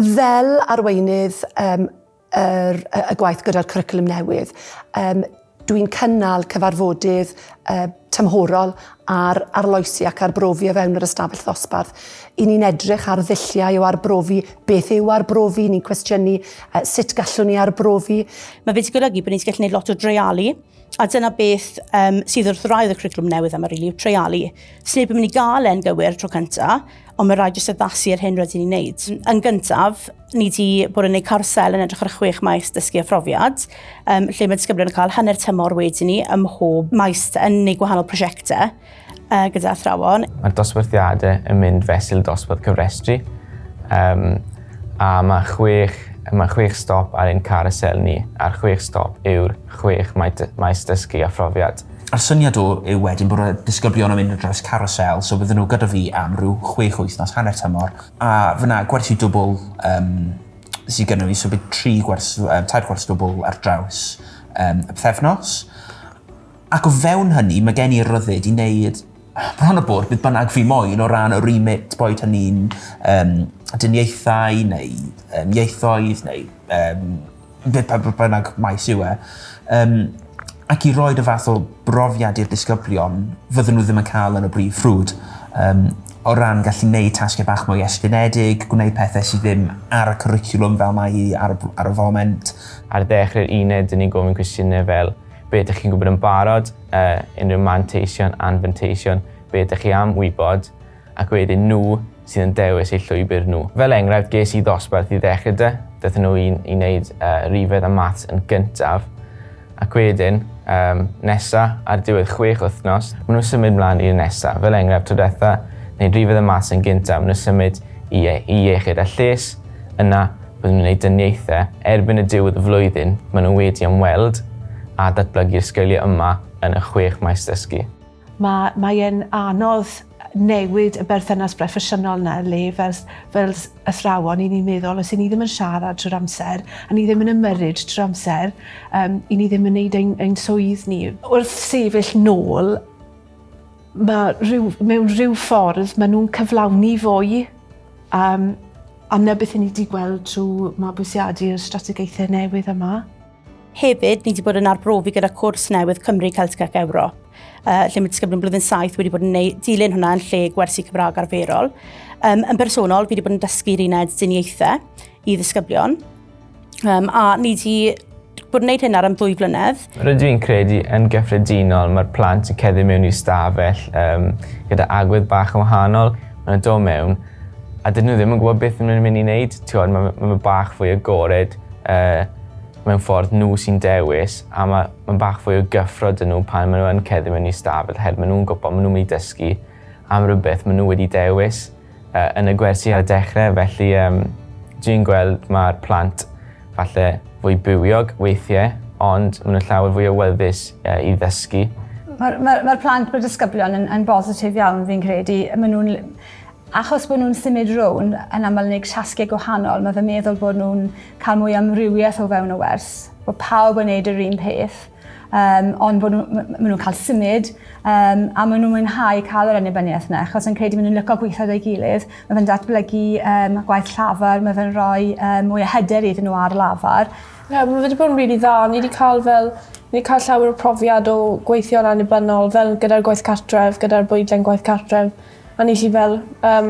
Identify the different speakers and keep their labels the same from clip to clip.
Speaker 1: Fel arweinydd um, er, y gwaith gyda'r cwricwlwm newydd, um, dwi'n cynnal cyfarfodydd uh, tymhorol ar arloesi ac arbrofi o fewn yr ystafell ddosbarth. I ni'n edrych ar ddulliau o arbrofi, beth yw arbrofi, ni'n cwestiynu uh, sut gallwn ni arbrofi. Mae wedi golygu bod ni'n gallu gwneud lot o dreialu A dyna beth um, sydd wrth raidd y cwricwlwm newydd am yr yw treialu. Sneb yn mynd i gael e'n gywir tro cyntaf, ond mae rhaid jyst addasu ar hyn rydyn ni'n neud. Yn gyntaf, ni wedi bod yn gwneud carsel yn edrych ar y chwech maes dysgu a phrofiad, um, lle mae disgyblion yn cael hanner tymor wedyn ni ym mhob maes yn ei gwahanol prosiectau. uh, gyda athrawon. Mae'r dosbarthiadau yn mynd fesul dosbarth cyfrestru um, a mae chwech, mae chwech stop ar ein carousel ni a'r chwech stop yw'r chwech maes dysgu a phrofiad. A'r syniad o yw wedyn bod y disgyblion yn mynd ar draws carousel, so bydden nhw gyda fi am rhyw chwech wythnos hanner tymor, a fyna gwersi dwbl um, sydd gyda fi, so bydd tri gwers, um, tair gwers dwbl ar draws um, y pethefnos. Ac o fewn hynny, mae gen i'r ryddid i wneud bron a bod beth bynnag fi moyn o ran y remit, boed hynny'n um, dyniaethau neu um, ieithoedd neu um, beth bynnag maes yw e. Um, ac i roi y fath o brofiad i'r disgyblion fydden nhw ddim yn cael yn y brif ffrwd. Um, o ran gallu gwneud tasgau bach mwy estynedig, gwneud pethau sydd ddim ar y cwricwlwm fel mae hi ar, ar y foment. Ar ddechrau'r uned, dyn ni'n gofyn cwestiynau fel Be ydych chi'n gwybod yn barod, yy, unrhyw manteision, anfanteision, be ydych chi am wybod, ac wedyn nhw sydd yn dewis eu llwybr nhw. Fel enghraifft, ges i ddosbarth i ddechrau dy, dythyn nhw i, i wneud uh, rifedd a maths yn gyntaf, ac wedyn, um, nesa, ar diwedd chwech wythnos, maen nhw'n symud mlaen i'r nesa. Fel enghraifft, tro diwetha, wneud rifedd a maths yn gyntaf, maen nhw'n symud i, i iechyd a lles, yna Byddwn yn wneud dyniaethau erbyn y diwedd y flwyddyn maen nhw wedi ymweld a datblygu'r sgiliau yma yn y chwech maes dysgu. Mae mae e'n anodd newid y berthynas broffesiynol 'na le fel fel athrawon 'yn ni'n meddwl os 'yn ni ddim yn siarad trwy'r amser a ni ddim yn ymyrryd trwy'r amser yym 'yn ni ddim yn neud ein ein swydd ni. Wrth sefyll nôl Mae rhyw, mewn rhyw ffordd, maen nhw'n cyflawni fwy um, a na beth i ni wedi gweld trwy mabwysiadu'r strategaethau newydd yma. Hefyd, ni wedi bod yn arbrofi gyda cwrs newydd Cymru, Celtic ac Ewrop, uh, lle mae disgyblion blwyddyn 7 wedi bod yn neud, dilyn hwnna yn lle gwersi Cymraeg arferol. Um, yn bersonol, fi wedi bod yn dysgu'r uned diniaethau i ddisgyblion. Um, a ni wedi bod yn gwneud hyn ar am ddwy flynedd. Rydw i'n credu yn gyffredinol mae'r plant yn ceddu mewn i'r stafell um, gyda agwedd bach yn wahanol. Mae'n dod mewn a dydyn nhw ddim yn gwybod beth nhw'n mynd i wneud. Ti'n mae, mae fe bach fwy agored uh, mewn ffordd nhw sy'n dewis a mae, mae bach fwy o gyffro dyn nhw pan maen nhw'n ceddu mewn i stafell oherwydd maen nhw'n gwybod maen nhw'n mynd i dysgu am rhywbeth maen nhw wedi dewis. yn y gwersi ar y dechre felly yym dwi'n gweld ma'r plant falle fwy bywiog weithie ond ma' n'w llawer fwy awyddus yy i ddysgu. Ma'r ma'r ma'r plant ma'r disgyblion yn yn bositif iawn fi'n credu yy ma' nw'n achos bo' nw'n symud rownd yn amal yn neud tasge gwahanol ma' fe meddwl bod nw'n ca'l mwy o amrywieth o fewn y wers bo' pawb yn neud yr un peth. um, ond bod nhw'n ma, ma nhw cael symud um, a maen nhw'n mwynhau cael yr annibyniaeth yna, achos yn credu maen nhw'n lyco gweithio ei gilydd, mae fe'n datblygu um, gwaith llafar, mae fe'n rhoi um, mwy o hyder iddyn nhw ar lafar. Ie, yeah, mae wedi bod yn rili really dda. Ni wedi cael fel Ni wedi cael llawer o profiad o gweithio'n annibynnol, fel gyda'r gwaith cartref, gyda'r bwydlen gwaith cartref, a ni chi fel um,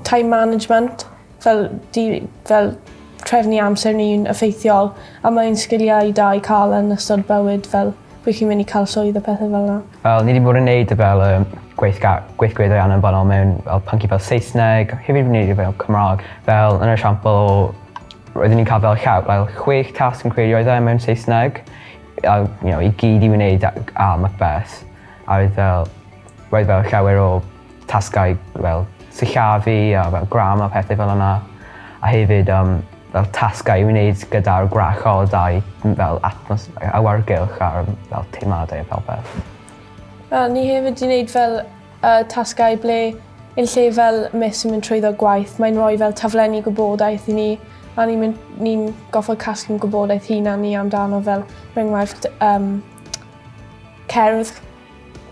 Speaker 1: time management, Fel di fel trefnu amser ni'n effeithiol a mae'n sgiliau da i ca'l yn ystod bywyd fel pryd chi'n myn' i ca'l swydd a pethe fel 'na. Wel ni 'di bod yn neud fel yym gweithga- gweithgareddau anabynol mewn fel pyncie fel Saesneg hefyd fi'n neud e fel Cymra'g fel yn yr esiampl o roeddwn i'n ca'l fel llaw- fel chwech tasg fi'n credu oedd e mewn Saesneg a you know i gyd i fi neud a- g- a Macbeth a oedd fel roedd fel llawer o tasgau fel sillafu a fel grammar a pethe fel yna a hefyd yym fel tasgau i wneud gyda'r gwrachod a'u m- fel atmos- yy awyrgylch a'r yym fel teimladau a popeth. Wel ni hefyd 'di neud fel yy tasgau ble yn lle fel miss yn mynd trwyddo gwaith mae'n roi fel taflenni gwybodaeth i ni a ni'n myn- ni'n goffod casglu'n gwybodaeth hunan ni amdano fel er enghraifft yym cerdd.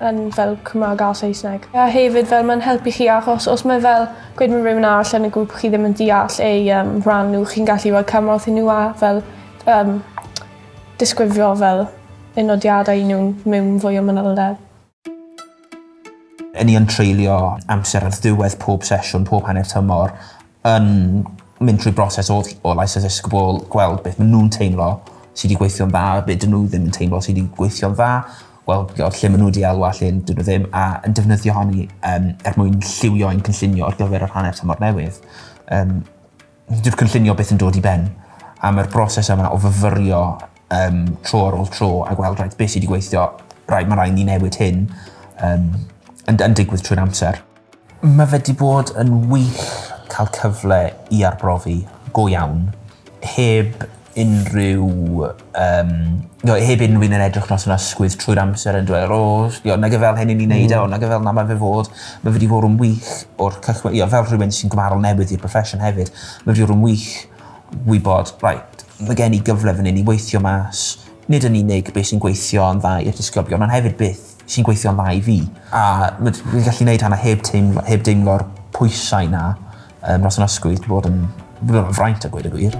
Speaker 1: yn fel Cymra'g a Saesneg. A hefyd fel ma'n helpu chi achos os mae fel gweud ma' rywun arall yn y grŵp chi ddim yn deall ei yym rhan nhw chi'n gallu roi cymorth i nhw a fel yym disgrifio fel y nodiadau i nhw'n mewn fwy o manylder. Y'n ni yn treulio amser ar ddiwedd pob sesiwn pob hanner tymor yn mynd trwy broses o ll- o lais dysgu bobl gweld beth ma' nw'n teimlo sy 'di gweithio'n dda a be' 'dyn nw ddim yn teimlo sy 'di gweithio'n dda wel y'od lle ma' nw 'di elwa lle 'dyn nw ddim a yn defnyddio honi yym er mwyn lliwio ein cynllunio ar gyfer yr hanner tymor newydd. Yym. Dyw'r cynllunio byth yn dod i ben a ma'r broses yma o fyfyrio yym tro ar ôl tro a gweld reit be' sy 'di gweithio reit ma' rai' ni newid hyn yym yn d- yn digwydd trwy'r amser. Mae fe 'di bod yn wych cael cyfle i arbrofi go iawn heb unrhyw yym no heb unrhyw un yn edrych noson ysgwydd trwy'r amser yn dweu o sbio nage fel hyn 'yn ni'n neud e o nage fel 'na ma' fe fod. Ma' fe 'di fod yn wych o'r cychwyn ie fel rhywun sy'n gymarol newydd i'r proffesiwn hefyd ma' wedi bod yn wych wybod reit ma' gen i gyfle fan 'yn i weithio mas nid yn unig be' sy'n gweithio yn dda i'r disgyblion on' hefyd beth sy'n gweithio'n dda i fi. A m'd fi'n gallu neud hwnna heb teimlo heb deimlo'r pwysau 'na yym dros 'yn ysgwydd dwi bod yn fraint a gweud y gwir.